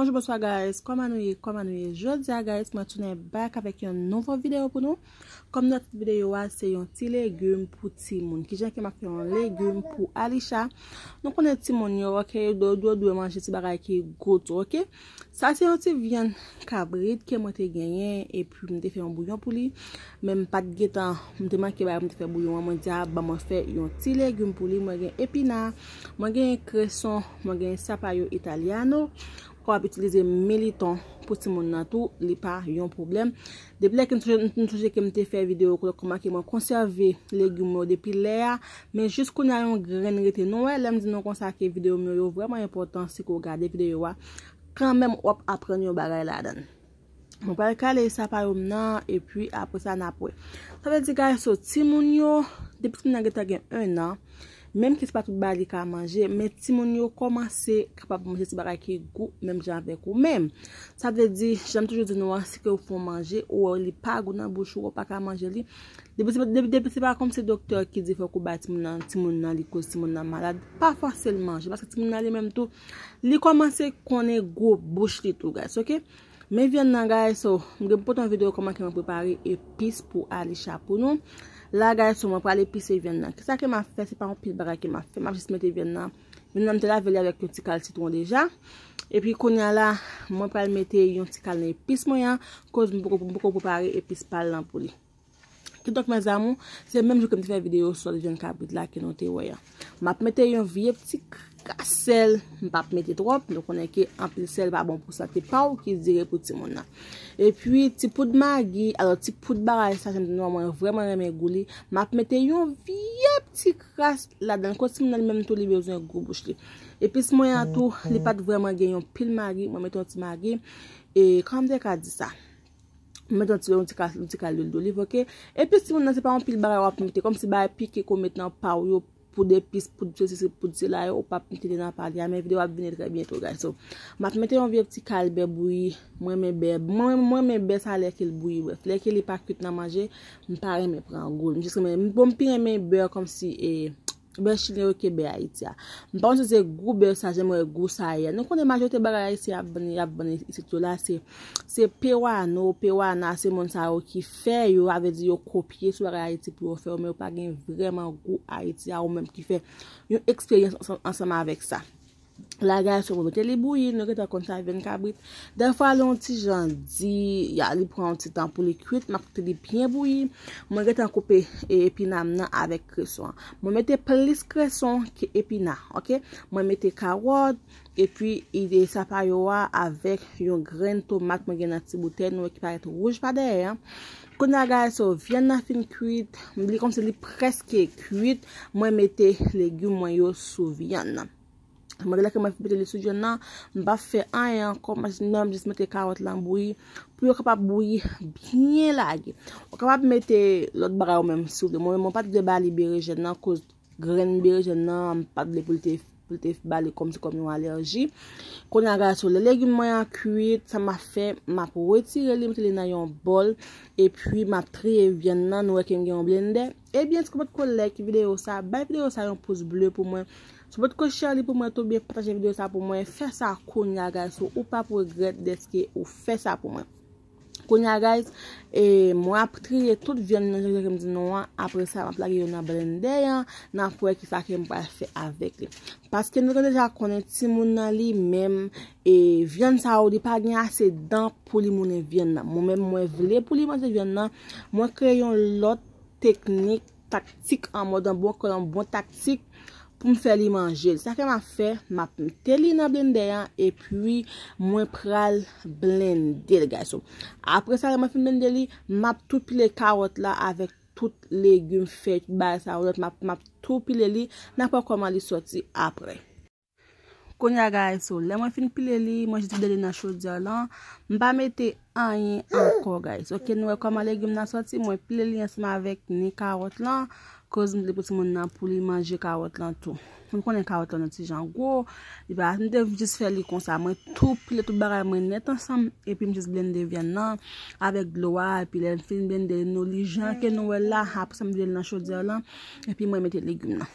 Bonjou bonswa guys, kòman nou ye, kòman nou ye Jodi a guys, mwen tounen back avèk yon nouvo video pou nou Kòm not video a, se yon ti legume pou ti moun Ki jan ke map fè yon legume pou Alisha Nou konnen ti moun yo, ok, yo dwe manje ti bagay ki gou tou, ok Sa se yon ti vyann kabrit ke mwen te genyen epi m te fè yon bouyon pou li men m pat gentan m te manke bagay pou m te fè bouyon an mwen di a ban mwen fè yon ti legim pou li mwen gen epina mwen genyen kreson mwen genyen sapayo italyano ou kapab itilize militon pou timoun nan tou li pa yon pwoblèm Depi lè ke m sonje, m sonje ke m te fè video kote ke m make mwen konsève legume yo depi lè a, men jis kounye a yon grenn rete. Nou wè lè m di nou konsa ke video m yo, yo vrèman enpòtan si ke w gade video a, kanmenm w ap aprann yon bagay ladan. Mwen pral kale sapa yo m nan, epi apre sa n ap wè. Sa vle di guys, so timoun yo, depi timoun nan gentan gen 1 an, Menm ke se pa tout bagay li ka manje, men timoun yo kòmanse kapab manje ti bagay ki gou menm jan avèk ou. Men, sa vle di, jan m toujou di nou an, si ke ou fè yon manje, ou wè li pa gou nan bouch ou, ou pa ka manje li, depi se pa kòm se doktè ki di fòk ou bay timoun nan, timoun nan li koz timoun nan malad, pa fòse l manje, paske timoun nan li menm tou, li kòmanse konnen gou bouch li tou guys, ok. Men vyann nan guys so m gen pou pote yon video koman ke mwen prepare epis pou Alisha pou nou la guys so mwen pral epise vyann nan kisa ke map fè se pa yon pil bagay ke map fè map jis mete vyann nan vyann nan m te lave li avèk yon ti kal sitron deja epi konya la mwen pral mete yon ti kal nan epis mwen an koz m poko prepare epis pal nan pou li. Kidonk mes amour, se menm jou ke m te fè video sòt vyann kabrit la ke nou te wè an. M ap mete yon vye pti kras sèl, m pa p mete twòp, nou konnen ke anpil sèl pa bon pou sante pa w ki dire pou timoun nan. E pi ti poud magi, alò ti poud bagay sa, janm di nou an mwen vreman renmen gou li, m ap mete yon vye pti kras ladan l, kot timoun nan li menm tou li bezwen gou bouch li. Epis mwen an tou, li pa t vreman gen yon pil magi, mwen mete yon ti magi, e kòman m te ka di sa? Ou met yon ti yon ti ka yon ti ka lwil doliv ok. Epis timoun nan se pa yon pil bagay wap mete kòm si bagay pike ke w met nan pa w yo pou de pis pou se sesi pou se la yo ou pap mete li nan pa li a men videyo ap vini trè byento guys so map mete yon vye ti kal bè bouyi m renmen bè m renmen bè sa lè ke l bouyi bref lè ke li pa kwit nan manje m pa renmen pran gou l m jis renmen bon m pi renmen bè kòm si e Bè chilyen yo ke bè Ayiti a. M pa konn si se gou bè sa jan m wè gou sa ye a. Nou konnen majorite bagay ayisyen ap vann, y ap vann isit yo la se, se pewano, pewana, se moun sa yo ki fè yo, sa vle di yo kopye sou bagay Ayiti pou yo fè yo, men yo pa gen vrèman gou Ayiti a ou menm ki fè yon eksperyans ansanm avèk sa. Lagay sou mete li bouyi, nou gentan konn sa vyann kabrit. Dèfwa lè yon ti jan di, ya li pran yon ti tan pou li kwit, mwen koute li byen bouyi. Mwen gentan koupe epina m nan avèk kreson. Mwen mete plis kreson ke epina, ok. Mwen mete kawòt, epi ide sa pa yo a avèk yon grenn tomat mwen gen nan ti boutèy nou e ki parèt wouj pa dèyè an. Kounye a guys so vyann nan fin kwit, li kòmsi li prèske kwit, mwen mete legume mwen yo sou vyann nan. Malgre lè ke mwen fin mete li sou vyann nan, m pap fè anyen ankò, mwen jis nan m jis mete karòt lan bouyi pou yo kapab bouyi byen lage. Ou kapab mete lòt bagay ou menm si ou vle. Mwen menm mwen pat vle ba li berejèn nan koz Grenn berejèn nan m pat vle pou l te pou l te ba li kòmsi kòm yon alèji. Kounya gason lè legim mwen an kuit sa map fè map retire li mete li nan yon bòl epi map triye vyann nan nou wè ke m gen yon blendè ebyen si w potko like videyo sa bay videyo sa yon pous ble pou mwen si w potko share li pou mwen tou byen pataje videyo sa pou mwen fè sa kounya gason ou pap regrèt dèske ou fè sa pou mwen. Kounye a guys, e mwen ap triye tout vyann nan jan jan kem di nou an, apre sa map lage yo nan blendè an, nap wè kisa kem pral fè avèk li. Paske nou te deja konnen timoun nan li menm, e vyann sa yo li pa gen ase dan pou li moulen vyann nan. Mwen menm mwen vle pou li manje vyann nan, mwen kreye yon lòt teknik. taktik an mòd an bon kòl an bon taktik pou m fè li manje l. Sa ke m ap fè, m ap mete li nan blendè an e pi mwen pral blende l gason. Apre sa lè mwen fin blende li, m ap tou pile kawòt la avèk tout legim fèy, tout bagay sa yo lòt, m ap tou pile li, n ap wè kòman li sòti apre. Konya guys so lè mwen fin pile li mwen jis vide li nan chodyè lan m pa mete anyen ankò guys ok nou wè kòman legim nan sòti mwen pile li ansanm avèk ni kawòt lan koz m vle pou timoun nan pou li manje kawòt lan tou m konnen kawòt lan yon ti jan gwo li pa m te jis fè li konsa mwen tou pile tout bagay mwen nèt ansanm epi m jis blende vyann lan avèk dlo a epi lè m fin blende nou li jan ke nou wè l la aprè sa m vide li nan chodyè lan epi mwen mete legim nan.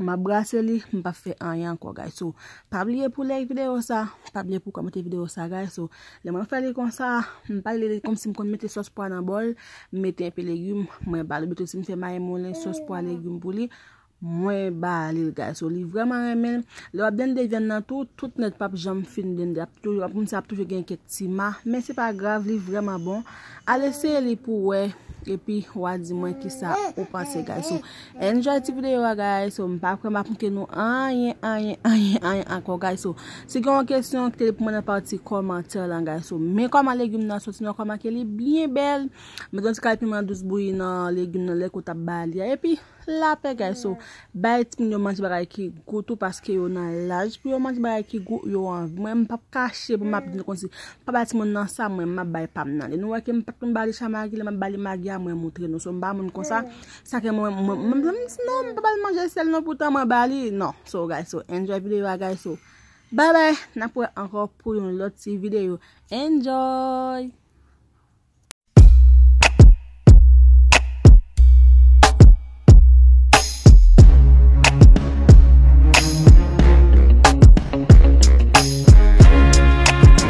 Map brase li m pap fè anyen ankò guys so pa bliye pou like video sa pa bliye pou komante video sa guys so lè mwen fè li konsa m pa li komsi m konn mete sos pwa nan bòl m mete enpe legume mwen bal oubito si m fè mayi moulen sos pwa legume pou li mwen balil guys so li vreman renmen lè wap blende vyann nan tou tout nèt pap janm fin blende ap toujou ap moun sa ap toujou gen kèk ti ma men se pa grav li vreman bon al eseye li pou wè epi wa di mwen kisa ou panse guys so Enjoy ti video a guys so m pa kwè map mnke nou anyen anyen anyen anyen ankò guys so si gen yon kesyon kite li pou mwen nan pati kòmantè lan guys so men kòman legume nan soti nan kòman ke li byen bèl met yon ti kal piman dous bouyi nan legume nan lèk ou tap ba li a epi lapè guys so bay timoun yo manje bagay ki gou tou paske yo nan laj pou yo manje bagay ki gou yo anvi mwen m pap kache pou map di nou konsi pa bay timoun nan sa mwen map bay pam nan lè nou wè ke m pat konn ba li cha magi lè map ba li magi a mwen moutre nou so m pa moun konsa Sa ke mwen mwen mwen mwen mwen non mwen pa bal manje sel non poutan mwen bali non so guys so enjoy video a guys so bye bye nap wè ankò pou yon lòt ti video enjoy.